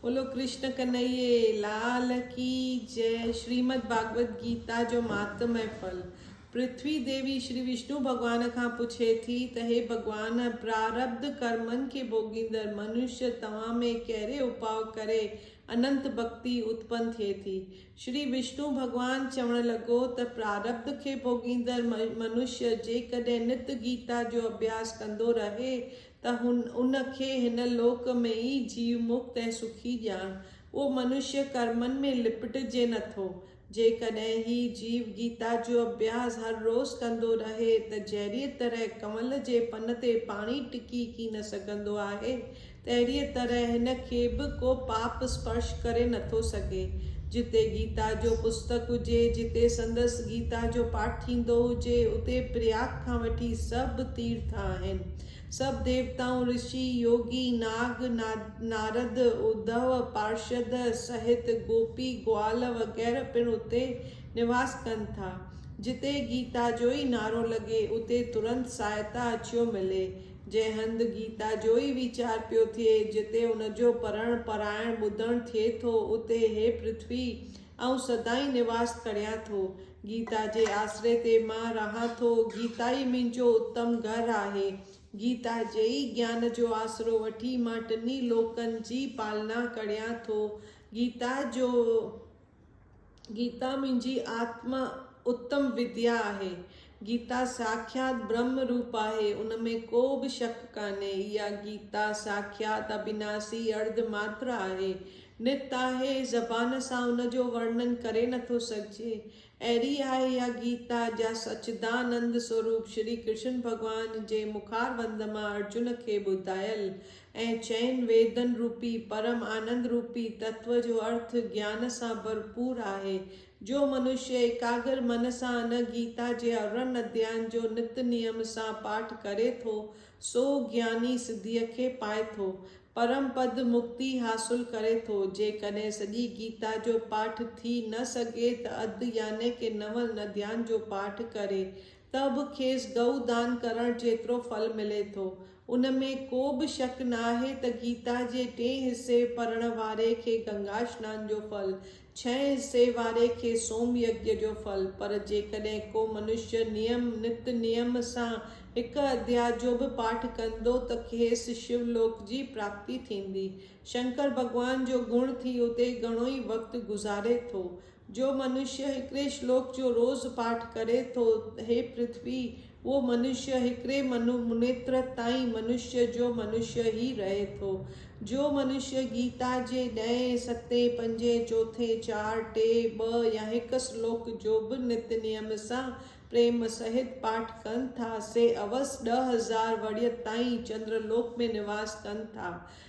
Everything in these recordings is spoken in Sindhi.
بولو ڪرشن ڪنهيي لال ڪي جئه شريمد ڀاڳوت گيتا جو مهاتم ۽ ڦل پرٿوي ديوي شري وشنو ڀڳوان کان پڇي ٿي ته هي ڀڳوان پراربڌ ڪرمن کي ڀوڳيندڙ منش توهان ۾ ڪهڙي اپاء ڪري اننت ڀڳتي اتپن ٿئي ٿي شري وشنو ڀڳوان چوڻ لڳو ته پراربڌ کي ڀوڳيندڙ منش جيڪڏهن نت گيتا جو اڀياس ڪندو رهي ته هن ان کي هن لوڪ ۾ ئي جيو مڪت ۽ سکي ڄاڻ. اهو منشيه ڪرمن ۾ لپٽجي نه ٿو. جيڪڏهن هي جيو گيتا جو اڀياس هر روز ڪندو رهي ته جهڙيء طرح ڪنول جي پن تي پاڻي ٽڪي ڪي نه سگهندو آهي، تهڙيء طرح هن کي به ڪو پاپ اسپرش ڪري نه ٿو سگهي. جتي گيتا جو پستڪ هجي، جتي سندس گيتا جو پاٺ ٿيندو هجي، اتي پرياگ کان وٺي سڀ تيرٿ آهن. سڀ ديوتائون، رشي، يوگي، ناگ، نارد، اڌو، پارشد، سهت، گوپي، گوال وغيره پڻ اتي نواس ڪن ٿا. جتي گيتا جو ئي نعرو لڳي، اتي ترنت سهائتا اچيو ملي. جنهن هنڌ گيتا جو ئي ويچار پيو ٿئي، جتي ان جو پڙهڻ، پرائڻ، ٻڌڻ ٿئي ٿو، اتي هي پرٿوي آئون سدائين نواست ڪريان ٿو. گيتا جي آسري تي مان رهان ٿو. گيتا ئي منهنجو اتم گهر آهي. گيتا جي ئي گيان جو آسرو وٺي مان ٽنهي لوڪن جي پالنا ڪريان ٿو. گيتا جو گيتا منهنجي آتما اتم وديا آهي. گيتا ساکيات برهمه روپ آهي، ان ۾ ڪو به شڪ ڪانهي. اها گيتا ساکيات اڀيناسي ارڌ ماتر آهي. نت آهي، زبان سان ان جو ورنن ڪري نٿو سگهجي. اهڙي آهي اها گيتا، جا سچدانند سوروپ شري ڪرشن ڀڳوان جي مخاروند مان ارجن کي ٻڌايل ۽ چئن ويدن روپي پرم آنند روپي تتو جو ارٿ گيان سان ڀرپور آهي جو منشيه ايڪاگر من سان ان گيتا جي ارڙهن اديائن جو نت نيم سان پاٺ ڪري ٿو، سو گياني سڌيء کي پائي ٿو. پرم پد مڪتي حاصل ڪري ٿو. جيڪڏهن سڄي گيتا جو پاٺ ٿي نه سگهي ته اڌ يعني ڪي نون اديائن جو پاٺ ڪري ته به کيس گئو دان ڪرڻ جيترو ڦل ملي ٿو. ان ۾ ڪو به شڪ ناهي ته گيتا جي ٽئين حصي پڙهڻ واري کي گنگا سنان جو ڦل، ڇهين حصي واري کي سوم يگيا جو ڦل پر جيڪڏهن ڪو منشي نيم، نت نيم، سان هڪ اڌيا جو به پاٺ ڪندو ته کيس شو لوڪ جي پراپتي ٿيندي. شنڪر ڀڳوان جو گڻ ٿي اتي گهڻو ئي وقت گذاري ٿو. جو منشيه هڪڙي شلوڪ جو روز پاٺ ڪري ٿو، هي پرٿوي، اهو منشيه هڪڙي منو منيتر تائين منشيه جو منشيه ئي رهي ٿو. جو منشيه گيتا جي ڏهين، ستين، پنجين، چوٿين، چار، ٽي، ٻه يا هڪ شلوڪ جو به نت نيم سان پريم سهت پاٺ ڪن ٿا، سي اوس ڏهه هزار ورهيه تائين چندرلوڪ ۾ نواس ڪن ٿا.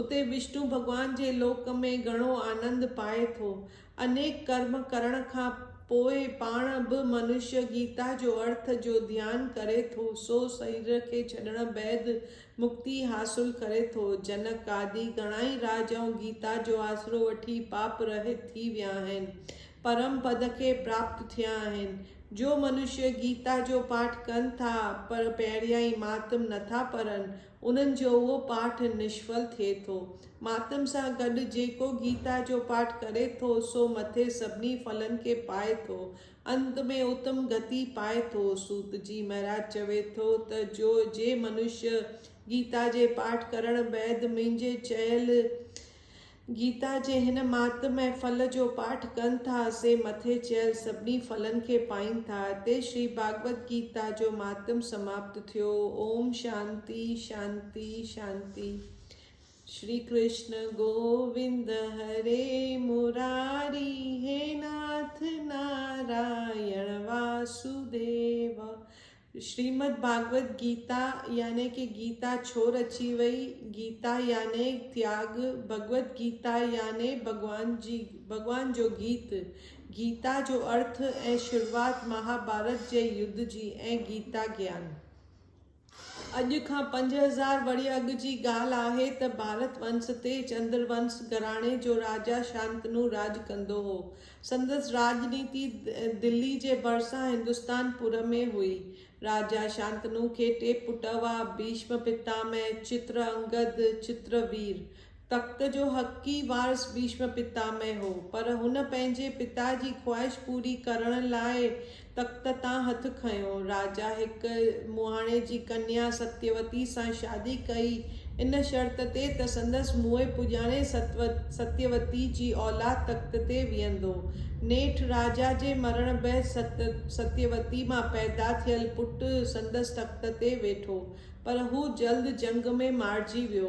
اتي وشنو ڀڳوان جي لوڪ ۾ گهڻو آنند پائي ٿو. انيڪ ڪرم ڪرڻ کان پوء پاڻ به منش گيتا جو ارٿ جو ڌيان ڪري ٿو، سو سرير کي ڇڏڻ بعد مڪتي حاصل ڪري ٿو. جنڪ آدي گهڻائي راجائون گيتا جو آسرو وٺي پاپ رهت ٿي ويا آهن، پرم پد کي پراپت ٿيا آهن. جو منش گيتا جو پاٺ ڪن ٿا پر پهريائين مهاتم نٿا پرن، انهن جو اهو پاٺ نشفل ٿئي ٿو. ماتم سان گڏ جيڪو گيتا جو پاٺ ڪري ٿو، سو مٿي سڀني ڦلن کي پائي ٿو. انت ۾ اتم گتي پائي ٿو. سوت جي مهراج چوي ٿو ته جو جي منشيه گيتا جي پاٺ ڪرڻ بعد منهنجي چيل گيتا جي هن مهاتم ۽ ڦل جو پاٺ ڪن ٿا، سي مٿي چيل سڀني ڦلن کي پائين ٿا. هتي شري ڀاڳوت گيتا جو مهاتم سماپت ٿيو. اوم شانتي شانتي شانتي. شري ڪرشن گووند هري مراري هي ناٿ نارائڻ واسوديو شريمد ڀاڳوت گيتا يعني ڪي گيتا ڇو رچي وئي، گيتا يعني تياڳ، ڀڳوت گيتا يعني ڀڳوان جي ڀڳوان جو گيت، گيتا جو ارٿ ۽ شروعات مهاڀارت جي يڌ جي ۽ گيتا گيان. اڄ کان پنج هزار ورهيه اڳ جي ڳالهه آهي ته ڀارت ونس تي چندر ونس گهراڻي جو راجا شانتنو راڄ ڪندو هو. سندس راڄنيتي دلي جي ڀرسان هندستان پور ۾ هئي. راجا شانتنو کي ٽي پٽ هئا، ڀيشم پتامه، چتر انگد، چتر وير. تخت جو حقيقي وارث ڀيشم پتامه هو، پر هن پنهنجي پتا جي خواهش پوري ڪرڻ لاء تخت تان هٿ کنيو. راجا هڪ مهاڻي جي ڪنيا ستيوتي سان شادي ڪئي، ان شرط تي ته سندس موئي پڄاڻي ستيوتي جي اولاد تخت تي ويهندو. نيٺ راجا جي مرڻ بعد ستيوتي مان پيدا ٿيل پٽ سندس تخت تي ويٺو، پر هو جلد جنگ ۾ مارجي ويو.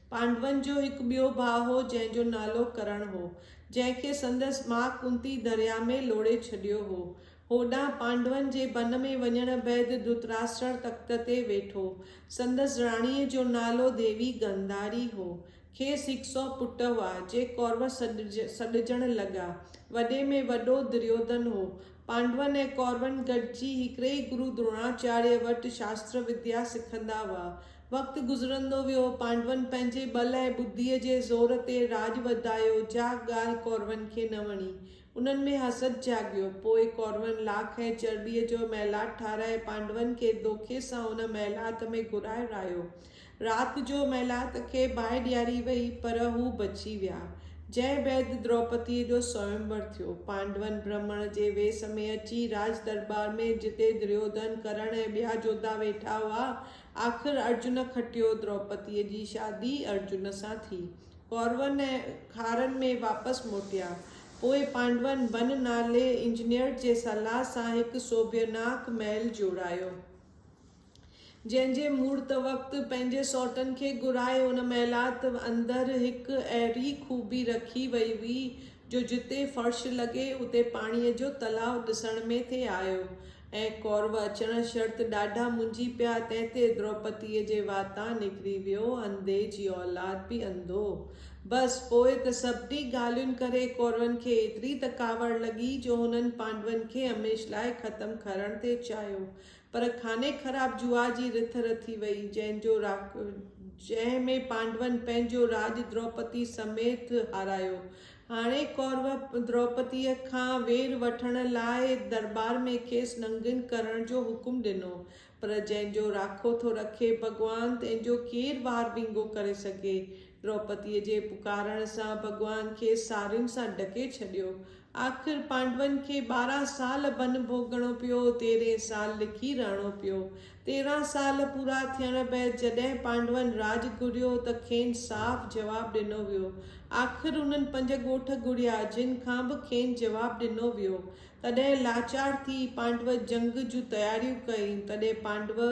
پانڊون جو هڪ ٻيو ڀاء هو جنهن جو نالو ڪرڻ هو، جنهن کي سندس ماء ڪنتي درياء ۾ لوڙهي ڇڏيو هو. هوڏانهن پانڊون جي بن ۾ وڃڻ بعد ڌرتراشٽر تخت تي ويٺو. سندس راڻيء جو نالو ديوي گانڌاري هو. کيس هڪ سؤ پٽ هئا، جي ڪورو سڏجڻ لڳا. وڏي ۾ وڏو دريوڌن هو. پانڊون ۽ ڪورون گڏجي هڪڙي ئي گرو دروناچاريه وٽ شاستر وديا سکندا هئا. وقت گذرندو ويو، پانڊون پنهنجي ٻل ۽ ٻڌيء جي زور تي راڄ وڌايو، جا ڳالهه ڪورون کي نه وڻي. انهن ۾ حسد جاڳيو. پوء ڪورون لاک ۽ چرٻيء جو محلات ٺاهرائي پانڊون کي دوکي سان ان محلات ۾ گهرائي رهايو. رات جو ميلات کي باهه ڏياري ويئي، پر هو بچي ويا. جنهن بعد دروپديء جو سويمور ٿيو. پانڊون برهمڻ جي ويس ۾ اچي راج درٻار ۾، جتي دريوڌن، ڪرڻ ۽ ٻيا جوڌا ويٺا هئا، آخر ارجن کٽيو. دروپديء جي شادي ارجن سان ٿي. ڪورون ۽ کارن ۾ واپس موٽيا. پوء پانڊون بن نالي انجنيئر جي صلاح سان هڪ سوڀيناڪ محل جوڙايو. جنهن جي مڙد وقت پنهنجي سئوٽن کي گهرائي ان محلات اندر هڪ اهڙي خوبي رکي وئي هئي جو جتي فرش لڳي اتي پاڻيء جو تلاء ڏسڻ ۾ ٿي آيو ۽ ڪورو اچڻ شرط ڏاڍا منجهي پيا تنهن تي دروپتيء جي واتان نڪري ويو انڌي جي اولاد به انڌو بس پوء ته سڀني ڳالهين ڪري ڪورن کي ايتري ته ڪاوڙ لڳي جو هنن پانڊون کي هميشھ لاء ختم ڪرڻ ٿي چاهيو پر خاني خراب جوا جي رٿ رٿي وئي، جنهن جو جنهن ۾ پانڊون پنهنجو راڄ دروپدي سميت هارايو. هاڻي ڪورو دروپديء کان وير وٺڻ لاء درٻار ۾ کيس ننگين ڪرڻ جو حڪم ڏنو. پر جنهن جو راکو ٿو رکي ڀڳوان، تنهن جو ڪير وار وينگو ڪري سگهي. دروپديء جي پڪارڻ سان ڀڳوان کيس سارين سان ڍڪي ڇڏيو. آخر پانڊون کي ٻارهن سال بنهه ڀوڳڻو پيو، تيرهين سال لکي رهڻو پيو. تيرهن سال پورا ٿيڻ بعد جڏهن پانڊون راڄ گهريو ته کين صاف جواب ڏنو ويو. آخر انهن پنج ڳوٺ گهڙيا، جن کان به کين جواب ڏنو ويو. تڏهن لاچار ٿي پانڊو جنگ جون تياريون ڪيائين. تڏهن پانڊو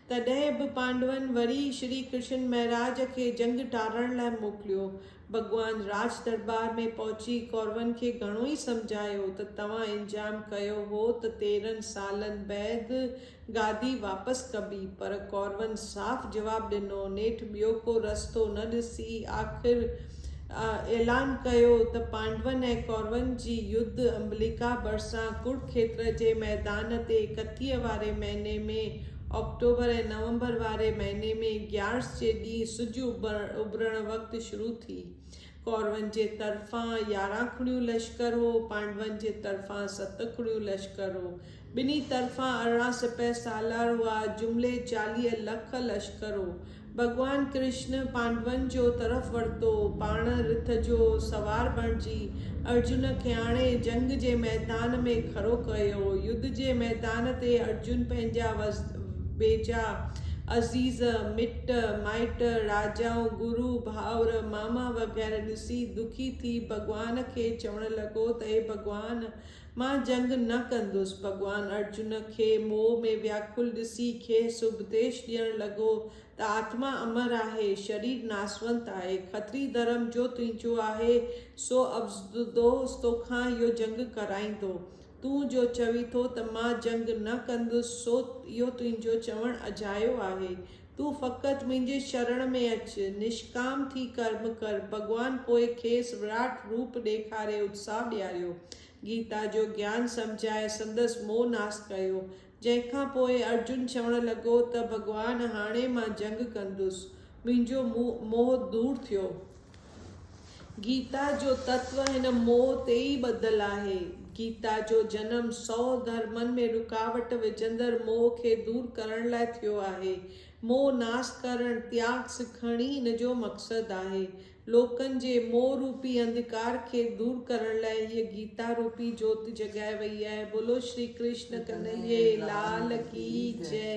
تڏهن به پانڊون وري شري ڪرشن مهراج کي جنگ ٽارڻ لاء موڪليو. ڀڳوان راج درٻار ۾ پهچي ڪورون کي گهڻو ئي سمجهايو ته توهان الزام ڪيو هو ته تيرهن سالن بعد گادي واپس ڪبي پر ڪورون صاف جواب ڏنو نيٺ ٻيو ڪو رستو نه ڏسي آخر اعلان ڪيو ته پانڊون ۽ ڪورون جي يڌ امبليڪا ڀرسان ڪرو کيتر جي ميدان تي ڪتيء واري مهيني ۾ آڪٽوبر ۽ نومبر واري مهيني ۾ گيارس جي ڏينهن سج اڀرڻ وقت شروع ٿي. ڪورون جي طرفان يارهن کڙيون لشڪر هو، پانڊون جي طرفان ست کڙيون لشڪر هو. ٻنهي طرفان ارڙهن سپهه سالار هئا، جملي چاليهه لک لشڪر هو. ڀڳوان ڪرشن پانڊون جو طرف ورتو، پاڻ رٿ جو سوار بڻجي ارجن کي آڻي جنگ جي ميدان ۾ کڙو ڪيو. يڌ جي ميدان تي ارجن پنهنجا ويجها عزيز، مٽ مائٽ، راجائون، گرو، ڀائر، ماما وغيره ڏسي دکي ٿي ڀڳوان کي چوڻ لڳو ته اي ڀڳوان! مان جنگ نه ڪندس. ڀڳوان ارجن کي موهه ۾ وياڪل ڏسي کيس اپديش ڏيڻ لڳو ته آتما امر آهي، شرير ناسونت آهي. کتري ڌرم جو تنهنجو آهي، سو اپدوش توکان اهو جنگ ڪرائيندو. تون جو چوين ٿو ته مان جنگ نه ڪندس، سو اهو تنهنجو چوڻ اجايو آهي. تون فقط منهنجي شرڻ ۾ اچ، نشڪام ٿي ڪرم ڪر. ڀڳوان پوء کيس وراٽ روپ ڏيکاري اتساهه ڏياريو. گيتا جو گيان سمجهائي سندس موهه ناس ڪيو. جنهن کان پوء ارجن چوڻ لڳو ته ڀڳوان هاڻي مان جنگ ڪندس. منهنجو موهه دور ٿيو. گيتا جو تتو هن موهه تي ئي ٻڌل آهي. گيتا جو جنم سؤ ڌرمن ۾ رڪاوٽ وجهندڙ موهه کي دور ڪرڻ لاء ٿيو آهي. موهه ناس ڪرڻ، تياڳ سکڻ ئي هن جو مقصد آهي. لوڪن جي موهه روپي انڌڪار کي دور ڪرڻ لاء هيء گيتا روپي جوت جڳائي وئي آهي. بولو شري ڪرشن ڪنهيي لال ڪي جئه.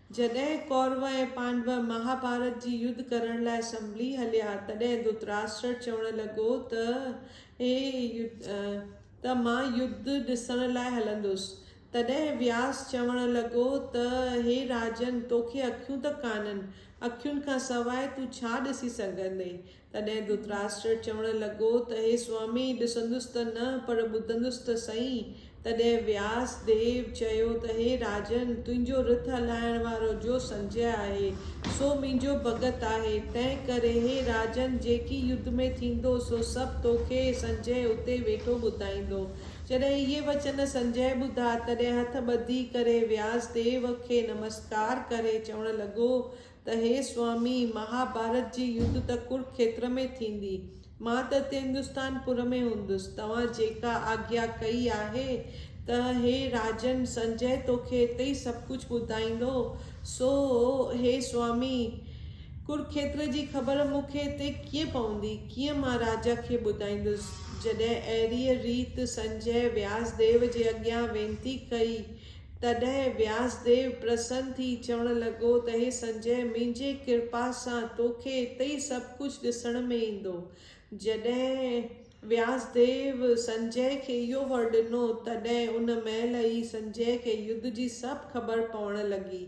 جڏهن ڪورو ۽ پانڊو مهاڀارت جي يڌ ڪرڻ لاء سنڀلي هليا، تڏهن ڌرتراشٽر چوڻ لڳو ته اي يڌ ته مان يڌ ڏسڻ لاء هلندس. تڏهن وياس چوڻ لڳو ته هي راجن! توکي اکيون ته ڪانهن، اکين کان سواء تون ڇا ڏسي سگهندين؟ تڏهن ڌرتراشٽر چوڻ لڳو ته هي سوامي! ڏسندس ته نه، پر ٻڌندس ته سهي. تڏهن وياس ديو چيو ته هي راجن! تنهنجو رٿ هلائڻ وارو جو سنجئه آهي، سو منهنجو ڀڳت آهي. تنهنڪري هي راجن! جيڪي يڌ ۾ ٿيندو، سو سڀ توکي سنجئه اتي ويٺو ٻڌائيندو. جڏهن اهي وچن سنجئه ٻڌا، تڏهن هٿ ٻڌي ڪري وياس ديو کي نمسڪار ڪري چوڻ لڳو ته هي سوامي، مهاڀارت جي يڌ ته ڪرکيتر ۾ ٿيندي، مان ته هتي هندستان پور ۾ هوندس، توهان جيڪا آگيا ڪئي آهي ته هي راجن سنجئه توکي هتي ئي سڀ ڪجهه ٻڌائيندو. سو هي سوامي، ڪرکيتر جي خبر مون کي هتي ڪيئن پوندي؟ ڪيئن مان راجا کي ٻڌائيندس؟ جڏهن اهڙيء ريت سنجئه وياس ديو جي اڳيان وينتي ڪئي تڏهن وياسديو پرسن ٿي چوڻ لڳو ته هي سنجئه! منهنجي ڪرپا سان توکي اتي ئي سڀ ڪجهه ڏسڻ ۾ ايندو. جڏهن وياسديو سنجئه کي اهو ور ڏنو، تڏهن ان مهل ئي سنجئه کي يڌ جي سڀ خبر پوڻ لڳي.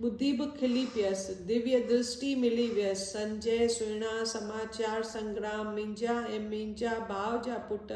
ٻڌي به کلي پيس. ديويه درشٽي ملي ويس. سنجئه سهڻا سماچار سنگرام، منهنجا ۽ منهنجا ڀاء جا پٽ